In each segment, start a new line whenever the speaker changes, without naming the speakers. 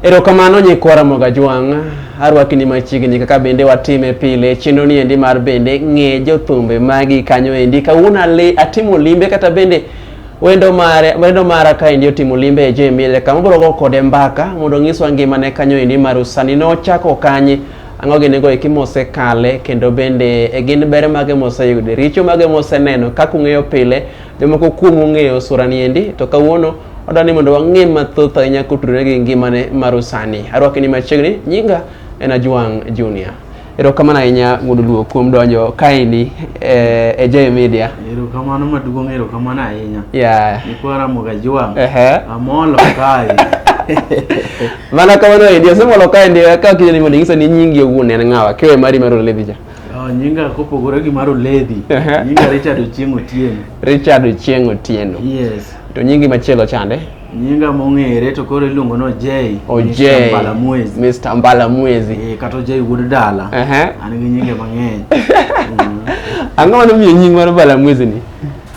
Erokamano nyikwa Ramogi Ajwang', arwaki ni machiegni kaka bende watime pile chenro ni endi mar bende ng'e jothumbe magi kanyo endi. Kawuono ale atimo limbe kata bende wendo mare wendo mara ka endi otimo limbe e Jemile kama bro go kode mbaka mondo nyiswa ngimane kanyo endi mar usani nochako kanye ang'o gin go eki mosekale kendo bende e gin ber mage moseyude richo mage moseneno kaka ung'eyo pile jomoko kuomu ung'eyo sura ni endi to kawuono Adwa ni mondo wang'e mathoth ahinya kotudore gi ngimane mar usani. Arwake ni machiegni, nyinga en Ajwang' Junior. Erokamano ahinya wuod Luo kuom donjo kaendi eh, e J Media. Erokamano maduong', erokamano
ahinya. Yeah. Nikwa
Ramogi Ajwang'.
Ehe. Amolo kae.
Mana kamano endi, asemolo kaendi ka kidhi ni mondo ing'isa ni nyingi owuon en ng'awa, kiwe mari mar Olevi cha. Oh, nyinga kopogore
gi mar Oledhi. Aha. Nyinga Richard Ochieng' Otieno. Richard Ochieng'
Otieno. Yes. To nyingi
machielo
chande? Nyinga mong'ere
to koro iluongo ni Ojei. Ojei. Mr. Mbalamwezi.
Mr.
Mbala Mwezi.
Eh, kata Ojei wuod
dala. Aha. An gi nyinge mang'eny.
Mm. Ang'o mane omiyo nying mar Mbala Mwezi ni?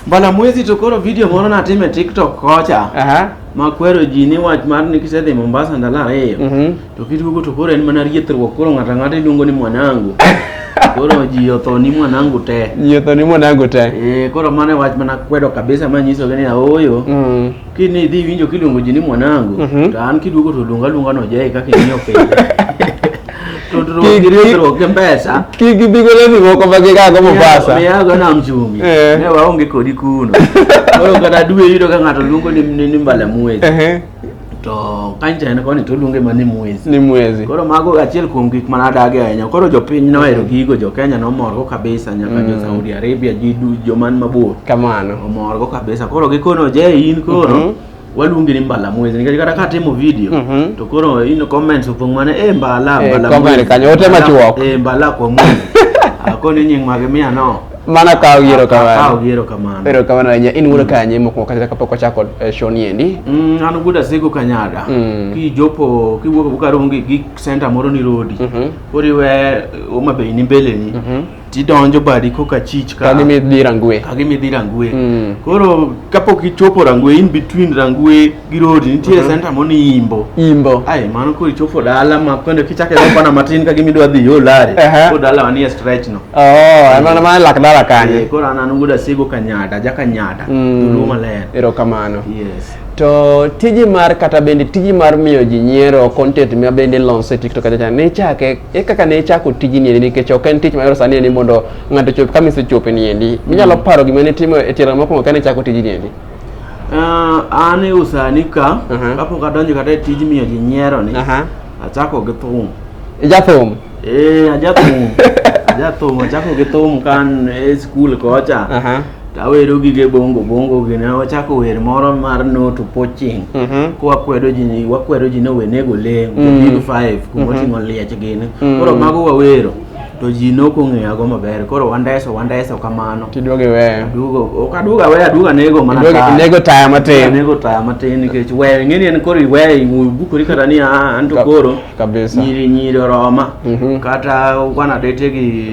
Mbalamwezi to
koro video moro natimo e TikTok kocha. Aha. Makwero ji ni wach mar ni kisedhi Mombasa ndalo ariyo. Mhm. To kiduogo to koro en mana riethruok koro ng'ato ang'ata iluongo ni mwanangu. Koro ji otho ni mwanangu te. Ji otho ni mwanangu te. Eh, koro mano e wach mana kwedo kabisa ma nyisogi ni aoyo. Mm. Kini idhi winjo kiluongo ji ni mwanangu, mm -hmm. to an kiduogo to luonga luonga no jai kaka ing'iyo piny. tudruok gi pesa kik gibi go leni
moko ma gigago Mombasa miyago nam chumbi
eh. ne waonge kodi kuno koro kata dwe yudo ka ng'ato luongo ni mbala mwezi to kanchine koni to oluonge ma ni mwezi ni mwezi koro mago achiel kuom gik ma nadagi ahinya koro jopiny nohero gigo jo Kenya nomorgo kabisa nyaka mm. jo Saudi Arabia ji joman mabor kamano omorgo kabisa koro gikono je in koro mm -hmm waluongi ni mbala mwezi nikech kata katimo video mm -hmm. to koro in comments opong' mana e eh, mbala eh, mbala mwezi kanyo ote machuok e eh, mbala kwa mwezi akoni nying' mage miya no Mana ka uyiero kamano. Ka uyiero kamano. Pero kamano ahinya. In wuono mm. kanye mokwongo kata kapok wachako eh, show ni endi? Mm, an wuod Asego Kanyada. Mm. Kijopo kiwuok Bukarongi gi center moro ni Rodi. Mm -hmm. Koriwe eh, Homa Bay ni mbele ni. Mm -hmm. Tidonjo badi koka chich ka. Kagi midhi Rangwe. Kagi midhi Rangwe. Mm. Koro kapok ichopo Rangwe in between Rangwe gi road nitie Mhm. center moni imbo imbo ai mano koro ichopo dala ma kendo kichake go bana matin ka gimidwa dhi yo lari Aha. ko dala wanie stretch no oh emana ma lak dala Eh, kanye koro an an guda sigo kanyada ja kanyada Mm. dulu maler erokamano yes to tiji mar kata bende tiji mar miyo ji nyiero content ma bende lonso e tiktok achacha ne ichake e kaka ne ichako tiji niendi nikech ok en tich mayot sani endi mondo ng'ato chop kama isechope niendi minyalo paro gima ne itimo e tielo mokwongo kane ichako tiji niendi Uh, an e usani ka uh -huh. kapok adonjo kata e tij miyo ji nyiero ni uh -huh. achako gi thum ijathum ee eh, ajathum ajathum achako gi thum kan e skul kocha uh -huh. tawero gige bongo bongo gi ne wachako wer moro mar no to poaching uh mhm. -huh. kwa kwedo ji wakwedo ji ni owenego leng mm. 5 kuma uh mhm. -huh. oting'o liech gini uh mhm. -huh. koro mago wawero to ji ne ok ong'eyago maber koro wandeso wandeso kamano tiduogo iweyo aduogo ok aduogo aweyo aduogo anego mana Iduogo- taya. inego taya matin. anego taya matin nikech weyo ing'eni en koro iweyo ibukori kata ni "Ah, an to Ka- koro kabisa. nyiri nyiri oroma Mhm. kata wana dete gi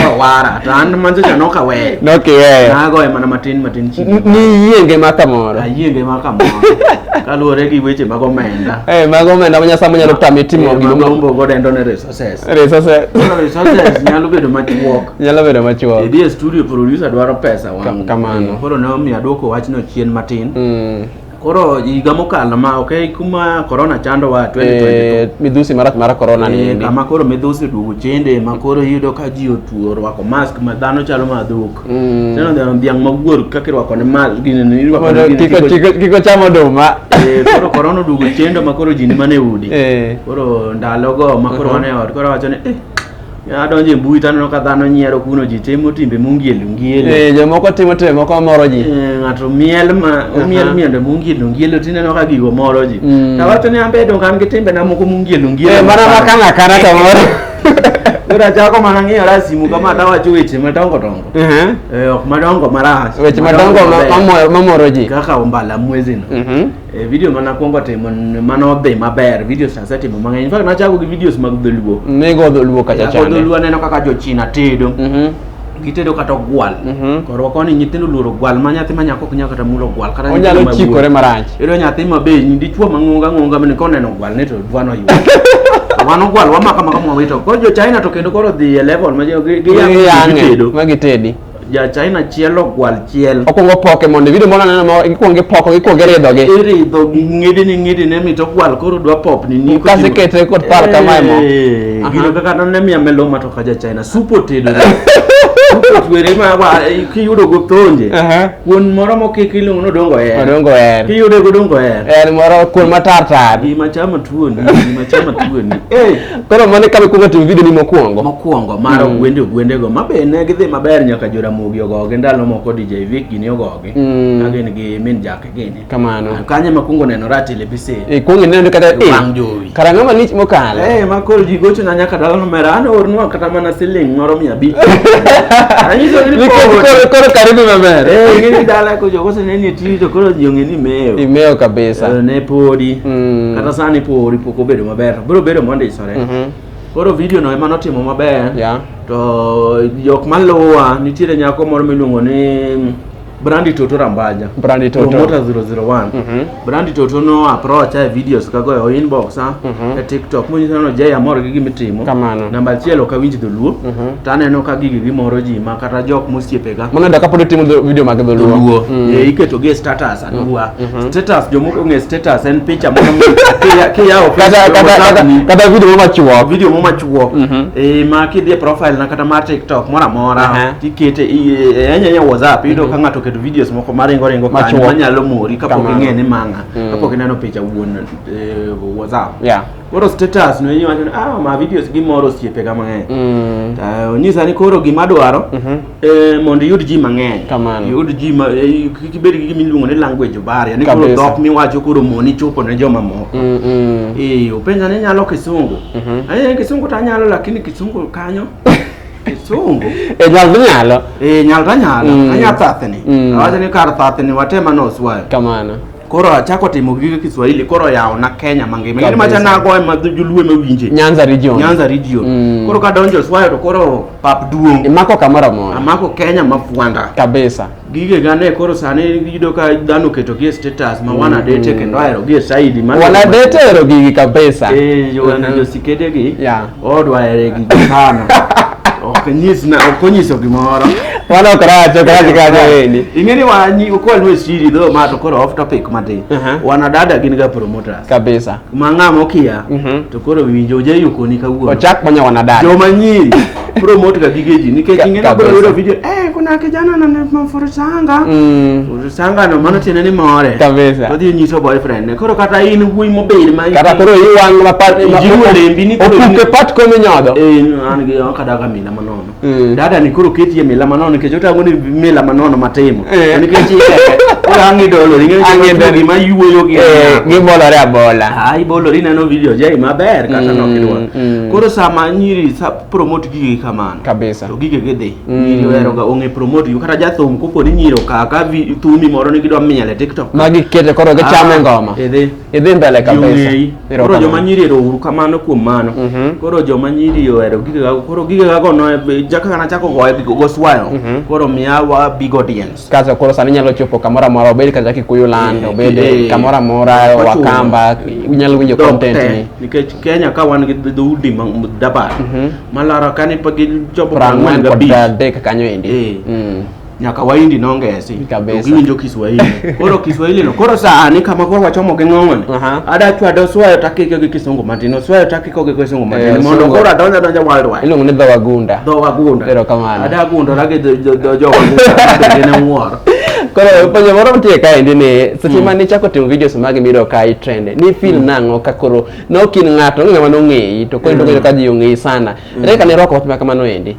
awara to an manzocha nok aweyo nokiweyo nagoye mana matin matin chini N- niyie ngima kamoro ayie ngima kamoro kaluwore gi weche mag omenda Eh, mago omenda ma nyasaye manyalo tami timo gima ma- magombo godendo ne resa Resources. Resources. Koro resources nyalo bedo machuok. Nyalo bedo machuok. Idhi e studio producer dwaro pesa wang'. Kamano. Koro ne omiyo aduoko wachno chien matin. Mm. Koro higa mokalo ma okay kuma corona chandowa 2022. Eh, midhusi marach mar corona ni. Eh, kama koro midhusi duogo chende ma koro iyudo ka ji otuo orwako mask ma dhano chalo madhuk. Mm. Sino neno dhiang' ma wuor kaka irwako ne mal gini ni irwako Mondo ne gini kiko- kiko- kiko- kiko cham oduma. Eh, koro korona oduogo chendo ma koro ji ni mana e udi Eh. koro ndalogo ma koro wan e ot koro awacho ni eh adonjo e mbui to aneno ka dhano nyiero kuno ji timo timbe mungielu ngielu Eh, jomoko timo timbe moko mamoro ji. Eh, ng'ato miel ma omiel Aha. miende mungielu ngielu tineno ka gigo moro ji Mm. tawacho ni ambe donge an gi timbena moko mungielu ngielu Eh, mana makana kana to moro. Ora chako mana ng'iyo rasimu kama hata wacho weche madongo dongo. Ehe. Eh, ok madongo marach. Weche madongo ma- maber. mamoro- mamoro ji. Kaka ombala mwezi no. Mhm. Eh, video mana kwongo timo n- mano odhi maber. Videos nasetimo mang'eny. In fact nachako gi videos mag dholuo. Migo dholuo kacha Kaka chande. dholuo aneno kaka jochina tedo. Mhm. gitedo kata ogwal mhm. korwa koni nyithindo luoro gwal ma nyathi ma nyako ok nyaka kata mulo gwal kata onyalo chikore marach
yudo nyathi ma be
nyindi chwo mang'onga ng'onga mane koneno gwal ne to dwano yudo wan ogwal wamaka maka mwawito koro jo china to kendo koro dhi e level ma gitedo ma gitedi
ja china
chielo gwal chiel okwongo poke mondo video
moro aneno ma ikwongo ipoko ikwongo iridhogi iridhogi
ng'idini ng'idini mit ogwal koro dwa popni ni kasekete kod par
kamae mo eh, gino kaka
none miya meloma kaja china supo tedo twere ma wa eh, kiyudo go tonje kuon moro mokik iluongo nodongo her odongo her kiyude go dongo her en moro kuon matar
tar gima chama tuoni
gima chama tuoni eh
koro mane kabe kuongo timo video ni mokuongo mokuongo mar mm. gwende gwende
go mabe ne gidhi maber nyaka joramogi ogogi ndalo moko DJ Vic gini ogogi mm. agin gi min jake gini kamano ah, kanye makungo
neno
rati le bise e eh, kungo neno kata e
wang jowi kara ngama
lich mokalo
eh makol ji gocho
na nyaka dalano mera an ornwa kata mana siling moro mia bi anyiso ni koro koro karibu
maber eh ngini dala ko
jogo se neni ti to koro ji ngeni meo imeo kabisa
eh, ne podi
mm. kata sani podi poko bedo maber bro bedo monde isore mm -hmm. koro video no ema notimo maber yeah. to jok maluwa nitiere nyako moro miluongo ni Brandi Toto Rambanya. Brandi Toto. Promota 001. Mm -hmm. Brandi Toto no approach ae videos kago e inbox ha. Mm -hmm. E TikTok. Mwenye sana jaya moro gigi mitimo. Kamano. Namba chielo ka winji dholuo. Mm -hmm. Tane no ka gigi gi moro ji ma kata jok mosiepega. Mano da kapod timo
video mag dholuo. Dholuo. Mm -hmm. E iketo ge
status anuwa. Mm -hmm. Status jomoko nge status en picha moro kia kia o kata kata
kata video mama chuo. Video mama chuo. Mm -hmm. E ma kidhi
profile na kata mar TikTok mora mora. Uh -huh. tikete ahinya ahinya WhatsApp iyudo ka ng'ato oketo videos moko maringo ringo kanyo Machuok. manyalo mori kapok Kamano. ing'e ni manga Mm. kapok ineno picha wuon eh, WhatsApp Yeah. koro status no iwacho ni ah ma videos gimoro osiepega mang'eny Mm. Ta onyisa ni koro gima adwaro Mhm. eh, mondo iyud ji mang'eny Kamano. iyud ji ma- eh, kik ibed gi gima iluongo ni language barrier ni koro Kabisa. dhok miwacho koro moni chopo ne jomamoko Mm, mm. Eh, openja ni nyalo kisungu Mhm. Aye, kisungu to anyalo lakini kisungu kanyo Kisungu. Eh, nyal to nyalo. Eh, nyal to nyalo. Mm. Anya thathni. Mm. Awacho ni kar thathni watema no oswayo. Kamano. Koro
achako
timo gige Kiswahili koro yawo na Kenya mangima. Ngeni macha nago ema joluo ema winje. Nyanza region. Nyanza
region. Mm. Koro kadonjo oswayo
to koro pap duong'. Imako kamoro amora.
Amako Kenya mafwanda.
Kabisa. gige
gane koro
sani yudo ka dhano keto gi status ma wana mm. date kendo ahero gi saidi ma wana date ero gi
kabisa eh yo wana jo
sikede gi ya odwa ere gi sana ok nyis na ok nyiso gimoro wana ok rach
ok rach ka jo wendi ingeni wa nyi
ko alwe siri do ma to koro off topic mati uh-huh. wana dada gin ga promoters kabisa ma ng'a
mokia
Mhm. to koro winjo je yukoni kawuono Ochak ponya wanadada. joma
nyiri
promote ga gige ji nikech Ka- ing'e kabisa. nabro yudo video eh kuna kijana na mafurusanga Mm. furusanga no mano tiende ni more Kabisa. odhi nyiso
boyfriend
ne koro kata in wuoyi mobed ma Kata koro iwang' ma
pat ma- Jiwo lembi ni koro in-
opuke pat komi nyodho.
eh an gi
okadaga mina manono Mm. dada ni koro keti e mila manono nikech otang'o ni mila manono matimo Eh. To nikech orangi dolo Ang'e dolo. gima yuoyo gi Eh, gibolore abola
ai bolori neno
video jai maber kata Mm, nokidwa mm. koro sama nyiri sa promote gigi kamano Kabisa. to gige gidhi Mm. nyiri oheroga ong'e promote gi kata jathum kopo ni nyiri okaka vi- thumi moro ni gidwa miel e tiktok magi kete koro
gichame Ah, ngoma idhi idhi mbele kabisa Giong'eyi. Koro joma nyiri
erouru kamano kuom mano. Mhm. Koro joma nyiri ohero gigega koro gigega go no jaka kana chako goye bigo go swayo. Mhm. Koro miya wa big audience. Kaso koro sani nyalo chopo
kamoro amora obed kata Kikuyu land eh, obed eh, kamoro amora Wakamba unyalo winjo content ni. Nikech Kenya ka wan
gi dhoudi dabar. Mhm. Malaro kani pa gi jopo prangwen ga bi. Prangwen kod
adek kanyo endi. Eh. Mm. nyaka
waindi nongesi Kabisa. to giwinjo kiswahili koro kiswahili no koro sani kama koro wachomo gi ng'ong'oni Aha. ada chwado swayo takike gi kisungu matin oswayo takiko gi kisungu matin Eh, mondo sungu. koro adonja donja worldwide Iluongo ni dho wagunda.
dho wagunda Erokamano.
ada agundora
gi dho-
dho- dho jowagunda bende ne wuoro Koro penjo
moro mtie kaendi ni seche ma nichako timo videos magi miyudo ka i trend ni feel nang'o ka koro ne ok in ng'ato onge ng'ama nong'eyi to koro idonjo ka ji ong'eyi sana. Ere ka ne irwako wach ma kamano endi?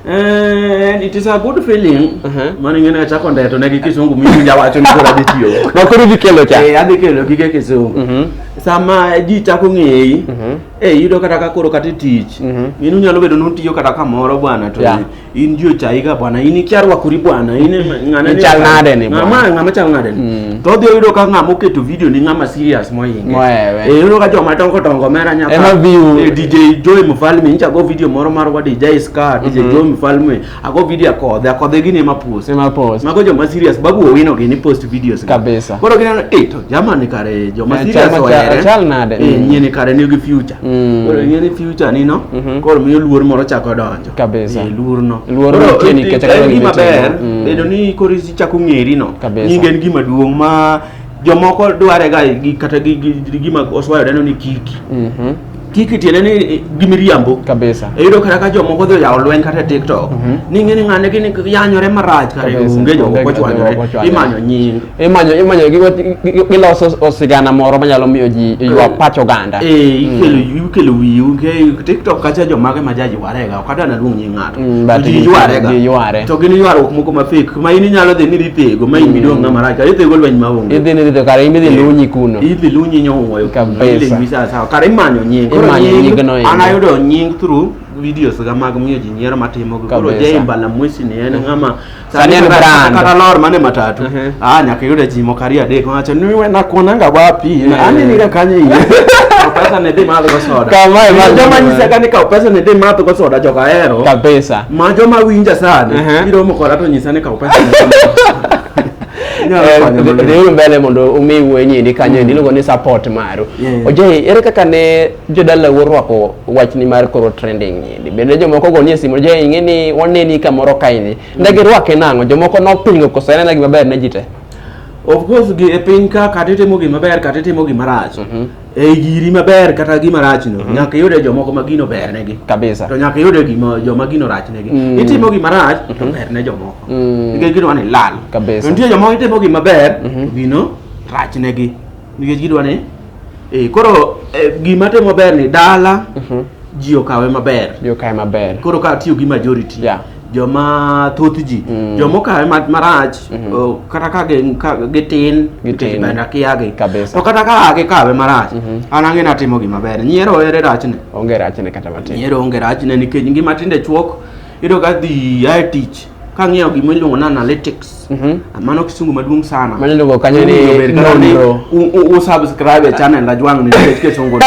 Eh, it is a good feeling. Uh-huh. Mano ing'e ni achako ndeto ne gi kisungu mimi jawacho ni koro adhi tiyo. Ma koro idhi kelo cha. Eh,
adhi
kelo gige kisungu. Mhm. Sama ji chako ng'eyi, Mhm. eh yudo kata ka koro kata e tich. Mhm. In unyalo bedo ni utiyo kata kamoro bwana to Yeah. in ji ochayiga bwana, in ikia rwakori bwana, in ng'ane Ichal nade ni bwana?
Ng'ama ng'ama chal nade ni? Mm.
to odhi oyudo ka ng'ama oketo video ni ng'ama serious mohinge Mohewe. Eh, yudo ka joma dongo dongo mera Ema nyaka view. Eh, DJ
Joy Mfalme
nyicha go video moro mar wa DJ Scar DJ Joy Mfalme ago video akodhe akodhe gini ema post Sema post. mago joma serious babu owino gini post videos gi. Kabisa. koro gineno eh
to
jamani kare joma Eh, serious chal ma chal- ohere chal nade? eh Mm. nyeni
kare nigi
future Mm. koro nyeni future nino Mhm. koro miyo luor moro chako donjo kabisa eh, luorno
luor
nitie nikech kaka en
gima ber mm.
bedo ni koro ichako ng'eri no nyingi en gima duong' ma jomoko dware ga kata gima oswayo deno ni kiki mhm. kiki tiende ni eh, gimiriambo kabisa eyudo kata
ka jomoko dhi
oyawo lweny kata e tiktok mhm. ni ng'e ni ng'ane gini yanyore marach kare onge jomoko chwanyore imanyo nying imanyo imanyo
giloso sigana moro manyalo miyo ji ywa eh, pach oganda eh, mm. ikelo
wiyi nge tiktok kacha jomage ma jaji warega ok adwa naluong nying ng'ato mm, ji yware to gin ywaruok moko ma fake ma in inyalo dhi ni dhi thego ma in mm. midong' ng'ama rach idhi go lweny ma onge idhi ni idhi kare in idhi eh,
lunyi kuno idhi lunyi nyowuoyo
kabisa
kare imanyo nying
koro nying an ayudo nying through videos ga mag miyo ji nyiero matimo koro jay mbalamwesi ni en ng'ama Sani en
brand. Kata lor mane matatu.
Mhm. Ah nyaka yude ji moko ariyo adek wacho ni we nakuonanga wapi? Na anini ka kanye iye. Kaw pesa ne dhi madho go soda. Kama e ma madho joma go. nyisa
ka ni
kaw pesa ne dhi madho go soda joka hero. kabisa Ma joma
winja
sani. Mhm. Biro moko rato nyisa ni kaw pesa ne dhi madho go soda. Inyalo Eh,
konyo maber. dhiuru mbele mondo umi wuoyi nyindi kanyo endi iluongo ni support maru Yeah. oje ere kaka ne Jodala worwako wachni mar koro trending ni. Bende jomoko go nie simu je ing'e ni waneni kamoro kaini. Ndege rwake nang'o jomoko nopingo koso en gima ber ne ji te. Of course
gi e piny ka kata itimo gima ber kata itimo gima rach. Mhm. E giri maber kata gima rach no mhm. nyaka iyude jomoko ma gino ber negi. Kabisa. To nyaka iyude
gima
joma gino rach negi. Mm. Itimo gima rach to mhm. ber ne jomoko. Mm. Nikech gino ni lal. Kabisa. Nitie jomoko itimo
gima
ber gino rach negi. Nikech gidwa ni Eh, koro eh, gima temo ber ni dala mhm. ji okawe maber. Ji okawe maber. Koro ka tiyo gi majority. Yeah. joma thoth ji mm. joma okawe marach mm -hmm. kata ka gitin nikech bende akiagi to kata ka gikawe marach mm -hmm. an ang'e natimo gima ber nyiero ere rachne onge rachne kata
matin nyiero onge rachne nikech
ngima tinde chuok iyudo ka dhi ae tich kang'iyo gima iluongo ni analytics mhm. mano kisungu maduong' sana mano iluongo kanyo ni
nonro u subscribe
e channel ajwang' ni nikech kisungu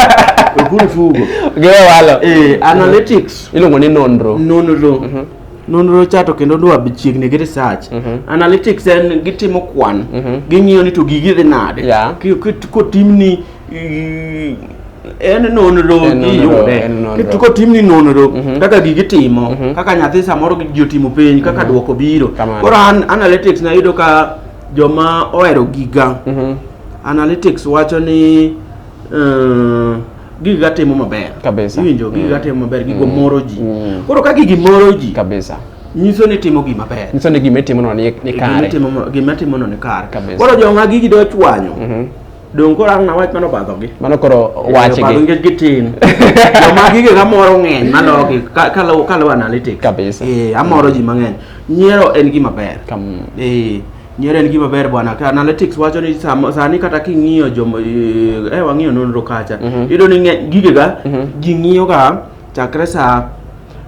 okuru tugo gewe walo
eh analytics
mhm. iluongo ni nonro
nonro mhm. nonro
cha to kendo dwa chiegni gi research analytics en gitimo kwan ging'iyo ni to gigi dhi nade kotimni en nonro giyude to kotimni nonro mhm. kaka gigi timo mhm. kaka nyathi samoro ji otimo penj kaka mhm. dwoko biro koro analytics nayudo ka joma ohero giga analytics wacho ni eh, giga timo maber iwinjo giga
mm. timo maber
gigo mm. moro ji mm. koro ka gigi moro ji nyiso
ni timo
gima ber nyiso ni gima itimono
ni kare gima itimono ni
kare koro joma gigi dochwanyo Dong koro ang' nawach mano obadhogi. Mano koro Obadho wachgi.
nikech gitin.
Joma gige kamoro ng'eny malogi ka- kaluwo kaluwo analytics. Kabisa. Eh, amoro
ji mang'eny.
Nyiero en gima ber. Kam- Eh, nyiero en gima ber bwana. Ka analytics wacho ni sam- sani kata king'iyo joma eh eh, wang'iyo nonro kacha. Iyudo ni ng'e- gigega ji ng'iyoga Chakre sa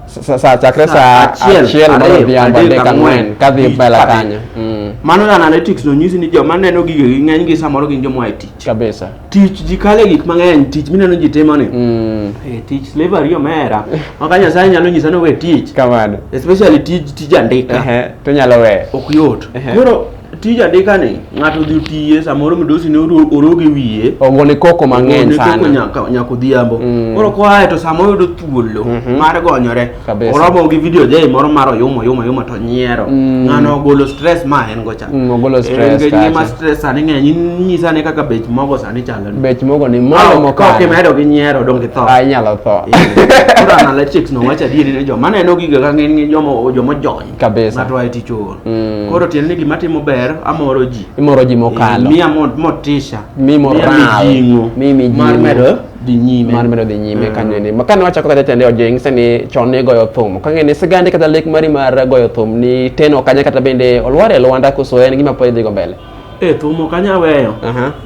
Sa- sa- sa- chakre Sa saa achiel, achiel mar ariyo, odhiambo adek, adek ang'wen
ang'wen, ka dhi lich mbele kabisa. kanyo Mm, mano na analytics
no nyisi ni joma neno gige gi ng'eny gi samoro gin joma oa e tich kabisa tich
ji kale gik
mang'eny tich mineno ji timo ni Mm, Eh, tich slavery omera maka nyasaye nyalo nyisa ni we tich kamano especially
tij tij
andika Ehe, to nyalo weyo
ok yot Ehe. koro
tij andika ni ng'ato odhi otiye samoro midosi ne oroge wiye ogone koko mang'eny
sana nyaka nyaka odhiambo
mm. koro koaye to samoro yudo thuolo mhm. mar gonyore oromo gi video jay moro mar oyuma oyuma oyuma to nyiero mm. ng'ano ogolo stress ma en go cha mm, ogolo stress ka
ngima stress sani
ng'eny nyisa ne kaka bech mogo sani chalo ni bech mogo ni mogo
mo ka ke medo gi nyiero
dong gi tho ai nyalo tho
koro
analytics no wacha diere ne joma neno giga ka ng'eny joma joma jony kabisa ng'ato ae tich
ool
mm. koro tiende ni gima timo ber amoro ji imoro ji mokalo eh, miya
motisha
mi moral
mi mi mar medo
dhi nyime mar medo dhi nyime mm.
kanyo ni makane wachako kata tende ojing sani chon ni goyo thum kang'e ni sigande kata lek mari mar goyo thum ni teno kanya kata bende olwar e lwanda koso en gima pod idhigo mbele e thum
ok anya weyo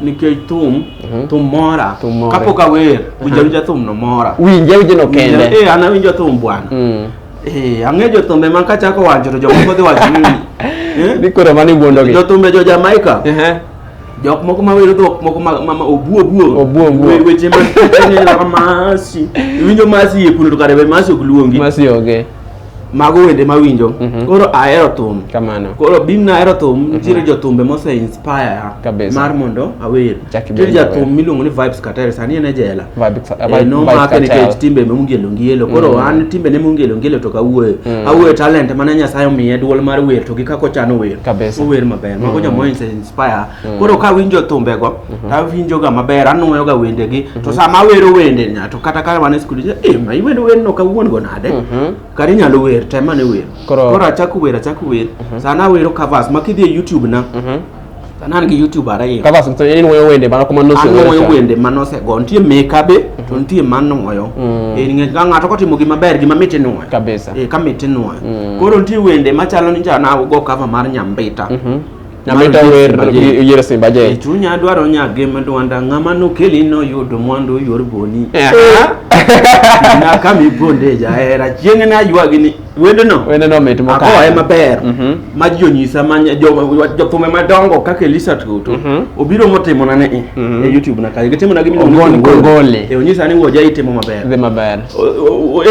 nikech thum mhm. thum mora kapok awer winja winja thum no mora winja winja no kende
e an awinjo thum bwana
mm. Eh, ang'e jothumbe ma kachako wacho to jomoko dhi wacho ni eh? ni koro
mani wuondogi jothumbe jo Jamaica
jok moko ma wero dhok moko ma ma obuo obuo obuo obuo weche ma ng'era masi winjo masi e kuno to kare be masi ok luongi masi oge
mago wende
ma winjo mm -hmm. koro ahero thum kamano koro bim
na ahero
thum mhm. nitiere mm -hmm. jothumbe mose inspire kabisa mar mondo awer Nitie jathum miluongo ni Vibes Katari sani en e jela. Eh, Nomake nikech timbe mongelo ngelo. Koro mm. an timbe ne mongelo ngelo to kawuoyo. Mm. Awuoyo talent mane Nyasaye omiye duol mar wer to gi kako chano wer. Ower maber. Mago mm. joma inspire. Koro ka winjo thumbe go, mm-hmm. ta winjo ga maber, anwoyo ga wende gi. To mm-hmm. sama awero wende nya to kata ka wan e skul, eh ma iwendo wer no kawuon go nade? Mm-hmm. Kar inyalo wer, tema ne wer. Koro achako wer, achako wer. Sana awero covers ma kidhi e YouTube na. to an gi YouTube ariyo kaka sasa en woyo wende
mana kuma nose an woyo wende mana ose go
nitie meka be to mhm. nitie mano woyo mm. eh ng'e ga ng'ato kotimo gima ber gima miti nwoyo kabisa eh ka miti
nwoyo mm.
koro nitie wende machalo ni jana go cover mar nyambita mhm. nyambita
wer yere simba je eh, chunya dwaro nya
gem dwanda ng'ama nokeli no yudo mwandu yor boni eh. na kami bonde ja era chieng' na ywagi ni wendno wendno mit mokalo agoye maber
mm
-hmm. ma ji onyisa ma jothumbe jo, madongo kaka Elisa Tutu mm -hmm. obiro motimo na ne mm -hmm. e YouTube na kayo gitimo na gimi ogon gole e onyisa
ni woja
itimo maber dhi maber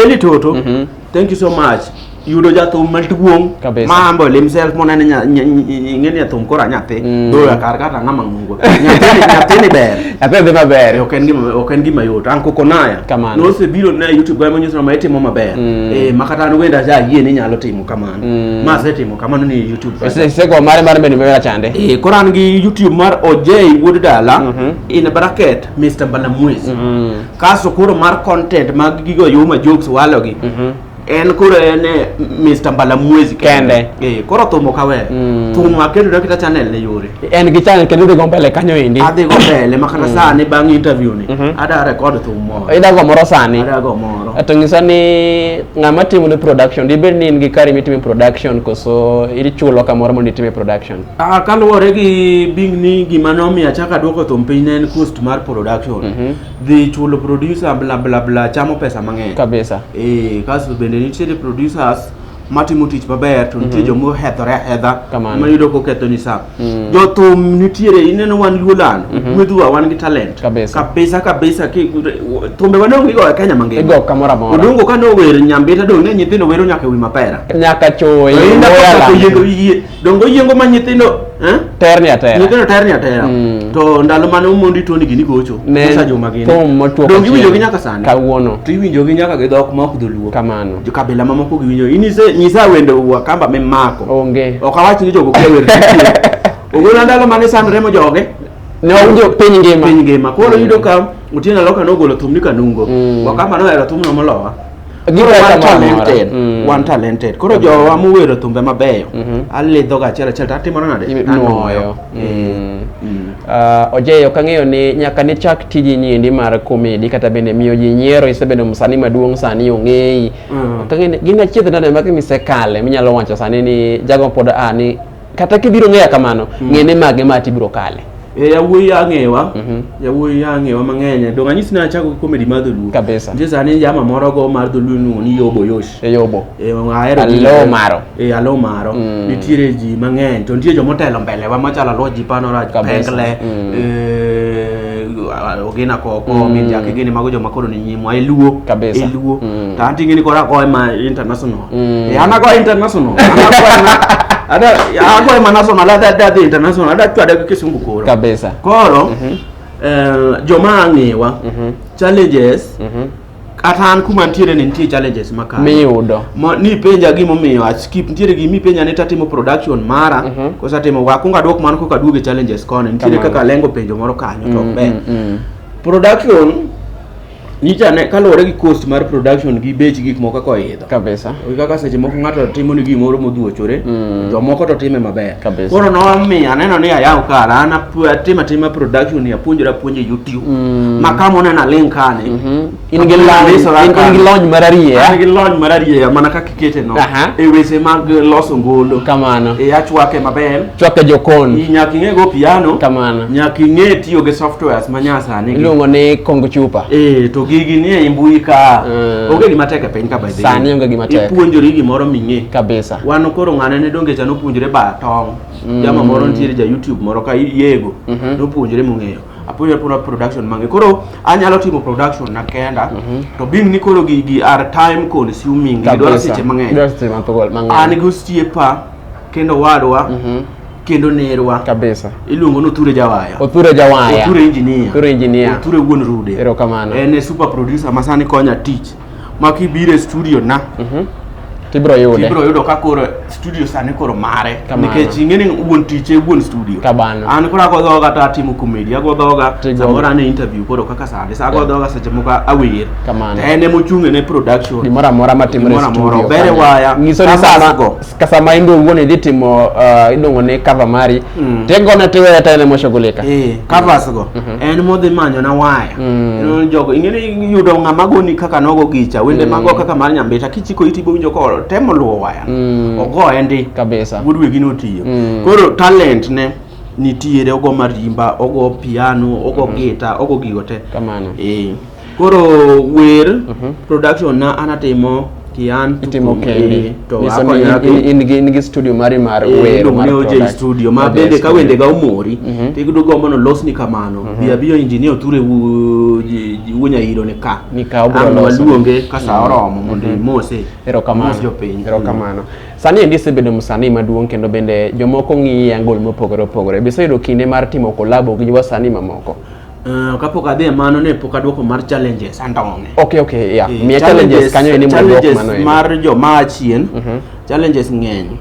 Eli Tutu mm -hmm. thank you so much yudo jathum maduong' ma ambo himself monene ing'e ni jathum koro anyathi mm. doya kar kata ng'ama nyathini ber nyathini dhi maber ok
en gima ok en gima
yot an koko naya kamano nose biro na youtube ga manyiso na maitimo maber mm. eh makata an wenda ja yie ni nyalo timo kamano mm. ma se timo kamano ni youtube se se go mare mare
bende mera chande eh koran gi youtube
mar ojei wuod dala mm -hmm. in bracket mr balamwezi mm -hmm. kaso koro mar content mag gigo yuma jokes walogi mm -hmm. en koro en eh, Mr. Mbalamwezi kende eh koro
thum ok awe
mm. thum aketo dakita channel ne yore en gi channel kendo
dhigo mbele kanyo endi adhi go mbele makata
mm. sani bang interview ni mm -hmm. ada record thum moro ida go moro sani
ada go moro to ngisa
ni
ngama timo ni production dibed ni in gi kari mitime production koso ili chulo kamoro mondo itime production ah kaluwore gi
bing ni gima nomiyo achaka duoko thum piny ne en cost mar production mm -hmm. dhi chulo producer bla bla bla chamo pesa mang'eny kabisa eh
kasto bende
nitiere producers matimo tich maber to nitie joma ohethore ahedha Kamano. mayudo koketho ni sa jothum nitiere ineno wan luoland gwedhwa wan gi talent Kabisa. kabisa kabisa ki- thumbe wanongo igo e kenya mangima igo kamoro amora odongo
ka nower
nyambita dong' ne nyithindo wero nyaka e wi mapera nyaka choyi
Oinda kaka Moyaland. koyiego yie
dongo yiengo ma nyithindo eh? terni atera
nyithindo terni atera mm. to ndalo
mane umondi toni gini gocho sa juma gini pom
motwo
dongo iwinjo gi nyaka
sani
kawuono to iwinjo gi
nyaka gi
dhok ma ok dholuo kamano jo kabila ma
moko giwinjo
ini se nyisa wende wa kamba me mako onge ok awach ni
jogo kia
wer ogona ndalo mane sandre mo joge ne wawinjo
piny ngima piny ngima koro mm. yudo ka
otieno aloka nogolo thum ni kanungo mm. wakamba nohero thumno molowa Koro Gitaka wan moro amora. talented, Mm. wan talented. Koro jowa mowero thumbe mabeyo, Mhm. alidhoga achiel achiel to atimona nade? Inuoyo. Anuoyo. Mm.
Mm. Ah, Ojei, ok ang'eyo ni nyaka nichak tiji niendi mar komedi kata bende miyo ji nyiero isebedo msanii maduong' sani ong'eyi. Mm. Ok ang'eyo ni gin achiedh nade magi misekale minyalo wacho sani ni jago pod a ni kata kibiro ng'eya kamano mm. ng'ene mage ma tibiro kale e yawuoyi ang'ewa
mm -hmm. yawuoyi ang'ewa mang'eny donge anyisi ni achako gi comedy mar dholuo kabisa nitie sani jama
moro
go mar dholuo iluongo ni yobo yosh e yobo e ahero alo maro e alo maro mm. nitiere ji mang'eny to nitie jomotelo mbele wa machalo alo ji panoraj pengle mm. e, ogina koko mm. minjake gini mago joma koro ni nyimwa eluo kabisa eluo mm. to anting'e ni kora koe ma international Mm. Eh, anakuwa international. Anakuwa na ada anakuwa international ada ada the international ada tu ada kisungu koro. Kabisa. Koro.
Mm
-hmm. Eh, joma ang'ewa mm -hmm. challenges mm -hmm kata an kuma ntiere ni nitie challenges makalo miyudo Mo, ni
penja
gimomiyo askip ntiere gimi penja ni tatimo production mara mm -hmm. kosa timo wakunga dwok mano koka duoge challenges koni ntiere kaka lengo penjo moro kanyo to mm, be mm, mm. production nyicha ne kaluwore gi cost mar production gi bech gik moko kaka oidho kabisa kaka seche
moko ng'ato
timo ni gimoro modhuochore mm. jomoko to time maber kabisa koro nomiyo
aneno
ni ayaw kar an atima tima production apuonjora puonje youtube mm. ma kama oneno alink kane
mm-hmm. in gi lony mararieya mana kaka kete no Aha.
e weche mag loso ngolo kamano e achwake
maber
chwake jokon
I- nyaka ing'e go piano
kamano nyaka ing'e
tiyo
gi softwares ma nyasani gi. iluongo ni kongo
chupa Eh, to gigi ni
e mbui ka Mm. onge gima tek e piny ka by the way. Sani onge gima tek. ipuonjori
gimoro ming'e
kabisa wan koro
ng'ane ne
donge cha nopuonjore ba tong jama moro nitiere ja youtube moro ka yego nopuonjore mong'eyo apuonjra puro production mange koro anyalo timo production na kenda mhm. to being ni koro gigi are time consuming gidwaro seche mang'eny an gi osiepa kendo wadwa mhm. kendo nerwa kabisa iluongo ni
othure jawaya
othure jawaya othure engineer othure engineer othure wuon rude erokamano en e super
producer
masani konya tich ma kibiro e studio na Mhm. Tibiro
yude. ibiro yudo ka koro studio
sani koro mare Kamano. nikech ing'e ni wuon tich e wuon studio Kamano. an koro ago
dhoga to
atimo komedi ago dhoga Tigo. samoro an e interview koro kaka sani sa ago Yeah. dhoga seche moko awer Kamano. to en emochung'
ne
production Gimoro amora matimre e
Gimoro amora, studio. obere kanyo. waya, Nyiso
ni cameras sama go.
kasa ma ingo wuon idhi timo uh, iluongo ni cover mari mm. tegone tiweye ta ene moshughulika eh, covers go mm
-hmm. en modhi manyo na waya mm. jogo ingeni yudo ng'ama goni kaka nogo gicha wende mm. mago kaka mar nyambita kichiko iti bowinjo ko temo luwo waya mm. ogo endi kabisa wuod wegi
notiyo mm.
koro talent ne nitiere ogo marimba ogo piano ogo mm -hmm. gita ogo gigo te kamano eh
Koro
wer mhm. production na anatimo kian itimo kendi
to in gi in gi studio mari mar eh, wer mar production je studio ma
bende ka wende ga umori mhm. to igudo go mono los ni kamano mhm. bia bio engineer ture wunya iro ne ka ni ka obro los luonge ka sa oromo mondo mose ero kamano ero
kamano sani endi isebedo msanii maduong' kendo bende jomoko ng'iyi angol mopogore opogore biseyudo kinde mar timo kolabo gi wasanii mamoko Uh, kapok adhi
e mano ne pok adwoko mar challenges andong'e. Okay, okay, yeah. Eh, Miya
challenges kanyo ni mano dwoko mano. Challenges mar jo ma achien.
Mm -hmm. Challenges ng'eny.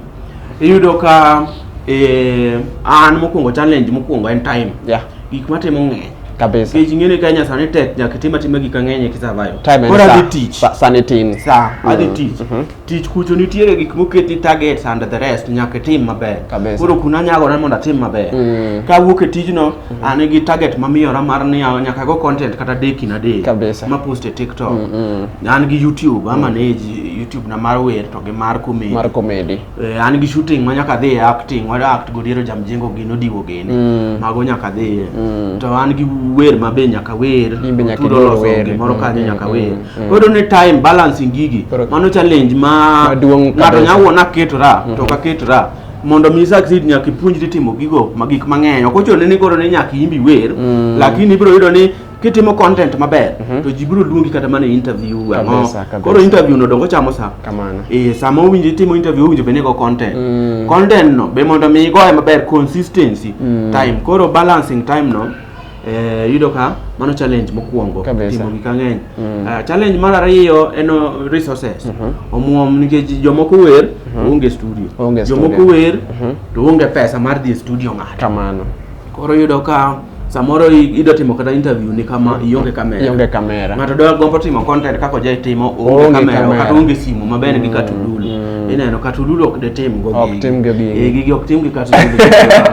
Iyudo ka eh an mokwongo challenge mokwongo en time. Yeah. Gik matimo ng'eny. Kabisa. Kech ng'ene
Kenya sani
tek nyaka itim atima gik ang'eny ki survive. Time Kora dhi tich. Sa,
sani
tin. Sa,
mm. adhi tich. Mm -hmm.
tich kucho nitiere gik moketi targets and the rest nyaka itim maber Kabisa. koro kuna nyagore mondo atim maber Mm. ka awuok e tijno an gi target mamiyora mar ni a- nyaka go content kata deki na dek Kabisa. ma post e tiktok an gi youtube amanage youtube na mar wer to gi mar comedy mar comedy Eh, an gi shooting ma nyaka dhi e acting wada act godiero jamjengo gino diwo gini Mm. mago nyaka dhiye Mm. to an gi wer ma be nyaka wer In be nyaka tudo iwer loso wer. gimoro Mm, kanyo mm, nyaka mm. wer Mm. Odo ne time balancing gigi. Mano challenge ma ng'ato nya wuon aketora mm-hmm. to ka ketora mondo mi succeed nyaka ipuonjri timo gigo ma gik mang'eny. Ok ochuno ni koro ni nyaka imbi wer, mm. lakini ibiro yudo ni kitimo content maber mm -hmm. to ji biro luongi kata mana interview ang'o koro interview no dongo chamo sa kamano eh sama owinjo itimo interview owinjo bene go content mm. content no be mondo mi igoye maber consistency mm. time koro balancing time no Eh, yudo ka mano challenge mokwongo Kabisa. timo gik ang'eny Mm. Ah, challenge mar ariyo en oh, resources omuom nikech jomoko wer to onge studio Onge jomoko studio. wer Mhm. to onge pesa mar dhi e studio ng'ato kamano koro
yudo ka
samoro i- idwa timo kata interview ni kama ionge kamera ionge kamera ng'ato dwa gombo timo content kaka oje timo Oonge onge kamera kamera. kata onge simu mabende gi katudul mm. ineno katululu ok detim go ok tim go gigi eh, gigi ok tim gi katululu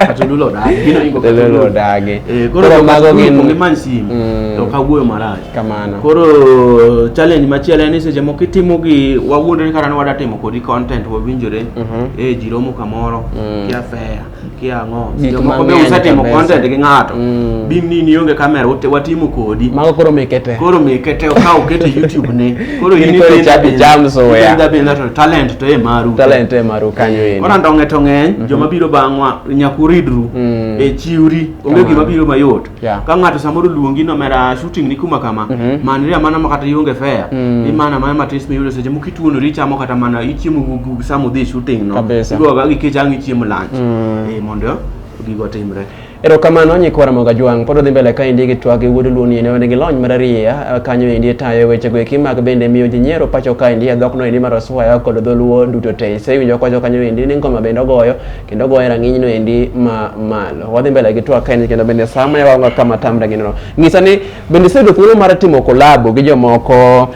katululu odagi gino ingo katululu
odagi eh, koro koro mago
gin gi man sim mm. to ka wuoyo marach kamano koro challenge machielo en ni seche moko itimo gi wawuondre kata ni wadatimo kodi content wawinjore mm -hmm. eh jiromo kamoro mm. kia fair kiang'o Gik moko be mang'eny usetimo kabisa. content gi ng'ato Mm. bim ni ni onge kamera ute- watimo kodi Mago koro mekete. koro
mikete ka ukete
youtube ne koro In koro ichako icham soya. dabinda to talent to e maru Talent e maru kanyo eri. kora ndong'e to
ng'eny
joma biro bang'wa nyaka uridru Mm. e chiwri onge Kamano. gima biro mayot Yeah. ka ng'ato samoro luongi no mera shooting ni kuma kama Mhm. manri amana ma kata ionge fare Mm. imana mana matis miyudo seche moko ituonori ichamo kata mana ichiemo gu- gu- sama udhi shooting no Kabisa. iduoga gi kech ang' ichiemo lunch Mm. Eh, mondo gigo timre erokamano
nyikwa ramoga jwang' pod odhi mbele ka endi gi twak e wuod luoni ene wan gi lony mar ariya eh, kanyo endi tayo wechego eki mag bende miyo ji nyiero pacho ka endi e dhokno endi mar oswaya kod dholuo duto te isewinjo kwacho kanyo endi ni ngoma bende ogoyo kendo goye rang'iny no endi ma malo wadhi mbele gi twak kaeni kendo bende sama yawaonga kama tam rang'iny no ng'isa ni bende isebedo thuolo mar timo kolabo gi jomoko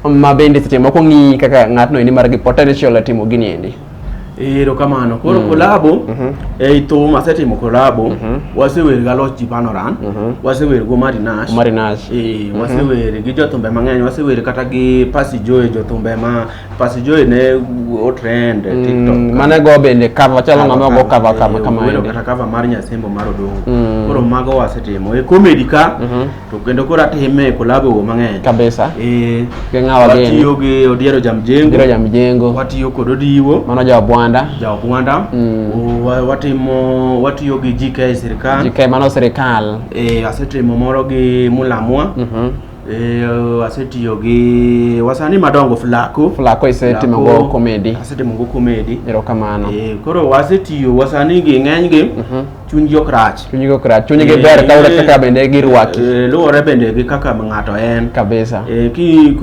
ma bende seche moko ng'i kaka ng'atno endi mar gi potential e timo gini endi ero kamano
koro mm. kolabo mm -hmm. ei thum asetimo kolabo mm -hmm. wasewer ga loch ji panoran mm -hmm. wasewer go marinash marinash e, mm -hmm. wasewer gi jothumbe mang'eny wasewer kata gi pasi joe jothumbe ma Pas Joy ne otrend e TikTok. Mm, mane go bende
cover chalo ng'ama go cover kama kama. Welo kata cover mar Nyasembo
mar Odongo. Mm. Koro mago wasetimo. E comedy ka mhm. to kendo koro atime e collab go mang'eny. Kabisa. Eh.
Gi ng'awa
gini. Watiyo
gi Odiero
Jamjengo. Odiero Jamjengo. Watiyo kod Odiwo. Mano ja Obwanda.
Ja Obwanda. Mm. Watimo
watiyo gi GK sirkal. GK mano sirkal.
Eh, asetimo moro
gi Mulamwa. Mhm. Eh, asetiyo gi wasani madongo flako flako isetimo go komedi asetimo go komedi erokamano eh,
koro wasetiyo
wasani gi ng'eny gi mhm. chuny gi ok rach chuny gi ok rach chuny gi eh, ber
kaluwore kaka bende girwaki luwore bende gi
kaka ng'ato en kabisa ki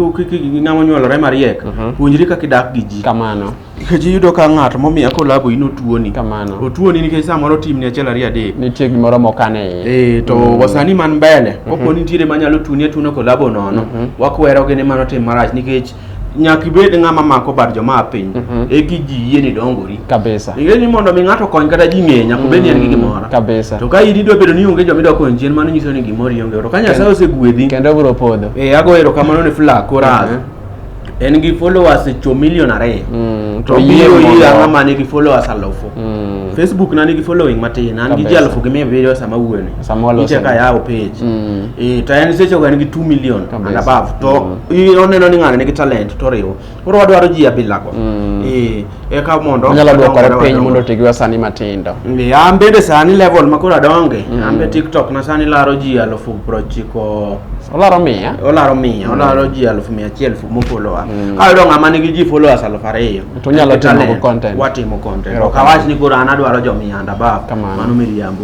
ng'ama onyuolore mariek mhm. puonjri kaka idak gi ji kamano nikech
iyudo ka
ng'at momiya kolabo in otuoni kamano otuoni nikech
samoro
timni achiel ariyo adek nitie gimoro mokane
iye ee to mm. wasani
man mbele mm -hmm. kopo nitiere manyalo tuni atuna kolabo nono mm -hmm. wakwero gini mano tim marach nikech nyaka ibed ng'ama mako bad joma piny mm -hmm. e ki ji yie ni dongori kabisa ing'e ni mondo
mi ng'ato
okony kata ji ng'e nyaka obed ni en gi mm, gimoro kabisa to ka in idwa
bedo ni
onge joma idwa konyo chien mano nyiso ni gimoro ionge to ka nyasaye osegwedhi kendo biro podho e
ago erokamano ne
fla koraz mm -hmm. en gi followers cho million ariyo mm, to biro ir ang'a ma nigi followers alufu mm. facebook na nigi following matin an gi ji alufu gi mia abiriyo sama wuone niche ka yawo page mm. e, to en seche en gi 2 million and above to mm. oneno ni ng'ano nigi talent toriwo koro wadwaro ji abilago mm. e, eka mondo anyalo dwokore piny mondo
oti gi wasani matindo an bende
sani level makoro adonge mm. an be tiktok na sani laro ji alufu prochiko olaro mia olaro mia mm. olaro ji alufu mia achiel mofolowa mm. kayudo ng'ama nigi ji followers alufu ariyo to nyalo timo
content watimo content ok
awach ni koro an adwaro jo mia and above mano miriambo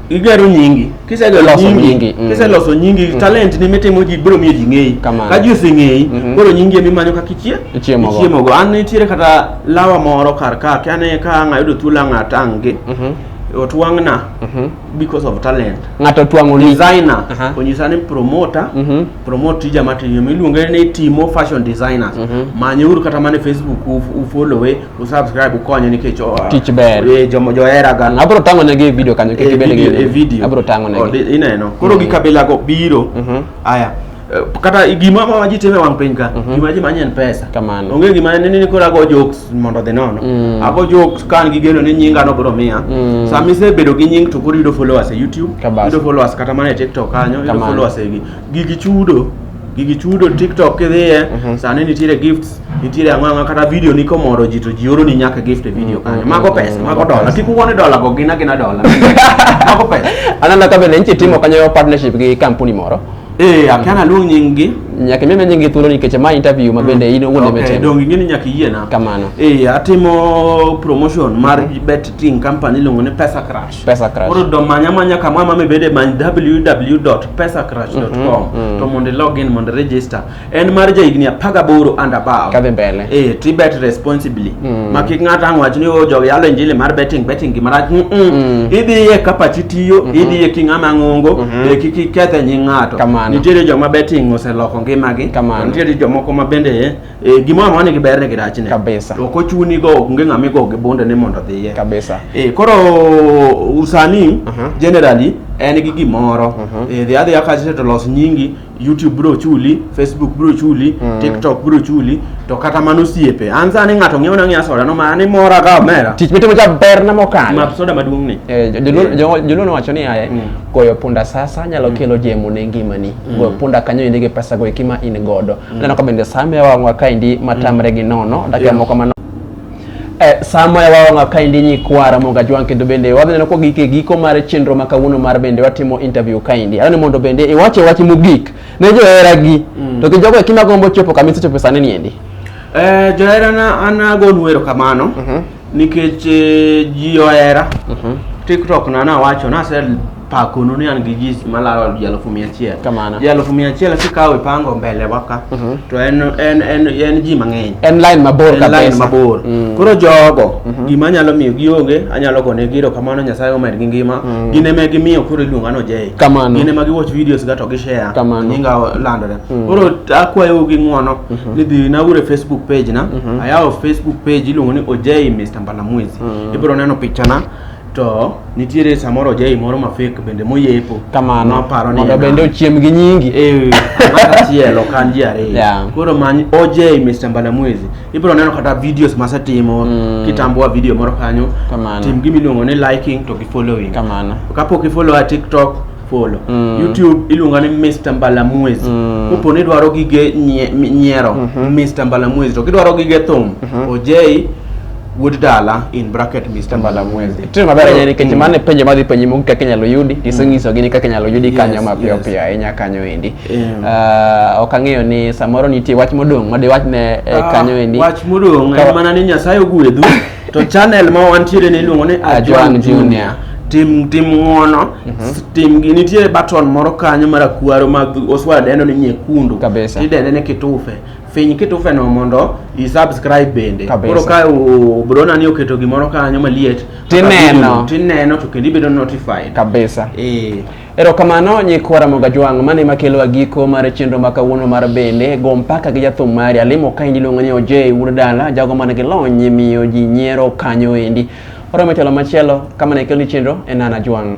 igero nyingi kisegero Iloso nyingi nyingi, mm. kiseloso nyingi talent ni mitimo ji biro miyo ji ng'eyi Kamano. ka ji oseng'eyi Mhm. koro nyingi ema imanyo kaka ichie Ichiemogo. ichiemogo an nitiere kata lawa moro kar ka kane ka ang' ayudo thuolo ang' atangi Mhm, otwang'na mhm. because of talent ng'ato twang'o ni
designer Aha. onyisa
ni promoter Mhm. promote tija matimo iluonge ni timo fashion designers Mhm. manyeuru kata mana e facebook u- ufollowe usubscribe ukonye nikech o- Tich ber. eh,
jomo joheraga Mm, abro
tang'o negi e video
kanyo kik Eh, ibed gi video- eh, neno. video. abro tang'o Oh, negi
di-
ineno koro gi kabila
go biro Mhm. aya eh, kata gima ma ji timo e wang' piny ka gima ji manye en pesa Kamano. onge gima ni
ni koro ago
jokes mondo odhi nono Mm. ago jokes ka an gi geno ni nyinga no biro miya Mm. sama isebedo gi nying to koro yudo followers e youtube Kabisa. yudo followers kata mana e tiktok kanyo yudo Kamano. followers e gi gigi chudo gigi chudo tiktok kidhiye mhm. sani nitiere gifts nitiere ang'o ang'o kata video ni komoro ji to ji oro ni nyaka gift e video kanyo mhm. mago pesa mago dola kik uone dola go gina gina dola mago pesa anana ka bende nitie
timo kanyo partnership gi kampuni moro Eh, akiana luong
nying gi. Nyaka meme nying gi thuolo
nikech ma interview ma bende mm. in owuon okay, emetimo. Donge ngini nyaka yie na.
Kamano. Eh,
atimo
promotion mar mm. bet ting company iluongo ni Pesa Crash. pesa crush koro do manya manya kama mama bede many www.pesacrush.com mm -hmm. to mondo log in mondo register en mar ja higni 18 and above kadhi mbele eh to
bet responsibly
mm -hmm. ma kik ng'ato ang' wach ni o jogi yalo injili mar betting betting gima rach mm -mm. mm. idhi ye kapa chitiyo mm -hmm. idhi ye king'ama ng'ongo mm -hmm. e kiki kethe nying' ng'ato nitiere joma betting oseloko ngimagi nitiere jomoko ma bende Eh, gimoro amora nigi berne gi rachne kabisa ok ochuni
go onge
ng'ama igo gi bunde ni mondo odhiye kabisa eh, koro usani uh mhm. -huh. generally en gi gimoro uh mhm. -huh. eh, dhi adhiya kacha to los nyingi youtube bro chuli facebook bro chuli mm. tiktok bro chuli to kata mano osiepe an sani ng'ato ng'iewo na ng'ia soda no ma ni mora ka omera tich mitimo cha ber na
mokalo map soda maduong ni
eh, joluo
nowacho ni aye mm. goyo punda sasa nyalo mm. kelo jemo ne ngimani mm. goyo punda kanyo inde gi pesa go ekima in godo Mm. Neno ka bende sama yawang'wa kaendi matamre gi nono dakika yeah. moko mano Eh, sama yawawang'a kaendi nyikwara monga jwang' kendo bende wadhi neno ko gike giko mar chenro ma kawuono mar bende watimo interview kaendi adwani mondo bende iwache wach mogik ne joheragi mm. to gi jogo ekima gombo chopo kama isechopo sani niendi eh, joherana
an agonu erokamano mm -hmm. nikech eh, ji ohera mm -hmm. tiktok na nawacho nase pakonu ni an gi ji malaro ji alufu mia achiel Kamano. ji alufu mia
achiel kikawo
ipango mbele waka to en, en, en, en ji mang'eny en line mabor en line
kabisa mabor Mm.
koro jogo gima anyalo miyo gionge anyalo gone giro kamano nyasaye omed gi ngima gin ema gimiyo koro iluonga no jei Kamano. gin ema giwatch
videos ga
to gishare Kamano. nyinga landore
koro
akwayou gi ng'wono ni dhi naure facebook page na ayawo facebook page iluongo ni ojei mr mbalamwezi ibiro neno pichana to nitiere samoro ojai moro ma fake bende moyepo kamano maparo ni
mondo bende
ochiem gi nyingi
eh achiel
ok an ji ariyo Yeah. koro many ojai Mr. Mbalamwezi ibiro neno kata videos masetimo Mm. kitamboa video moro kanyo Kamano. tim gima iluongo ni liking to gi following kamano kapok
ifollow a
tiktok follow Mm. youtube iluonga ni mr mbalamwezi Mm. kopo ni idwaro gige nye- mi- nyiero mr mbalamwezi to kidwaro gige thum ojei wuod dala in bracket Mr. Mbalamwezi. Itire maber ahinya nikech
mano e penjo madhi penji moko kaka inyalo yudi, tisenyisogi ni kaka inyalo yudi kanyo Yes, mapiyo yes. piyo ahinya kanyo endi. Em. Ah, ok ang'eyo ni samoro nitie wach modong' ma diwach ne eh, Ah, kanyo endi. Wach modong' Ka- en mana
ni Nyasaye ogwedhu to channel ma wantiere ni iluongo ni Ajwang' Ajwang' Junior. Junior. Tim tim ng'wono, s- tim gi nitie button moro kanyo marakwaro ma dhu- oswa dendo ni nyekundu. Kabisa. Tidende ni kitufe. finy kitufeno mondo isubscribe bende Kabisa. koro ka u- brona ni oketo gimoro kanyo maliet Tineno. tineno to kendo ibedo notified kabisa
eh erokamano nyikwa ramoga jwang' mane makelowa giko mar chenro ma kawuono mar bende go mpaka gi jathum mari alimo ka endi iluongo ni ojei wuod dala jago man gi lony miyo ji nyiero kanyo endi oromo telo machielo kama ne kelni chenro en nana jwang'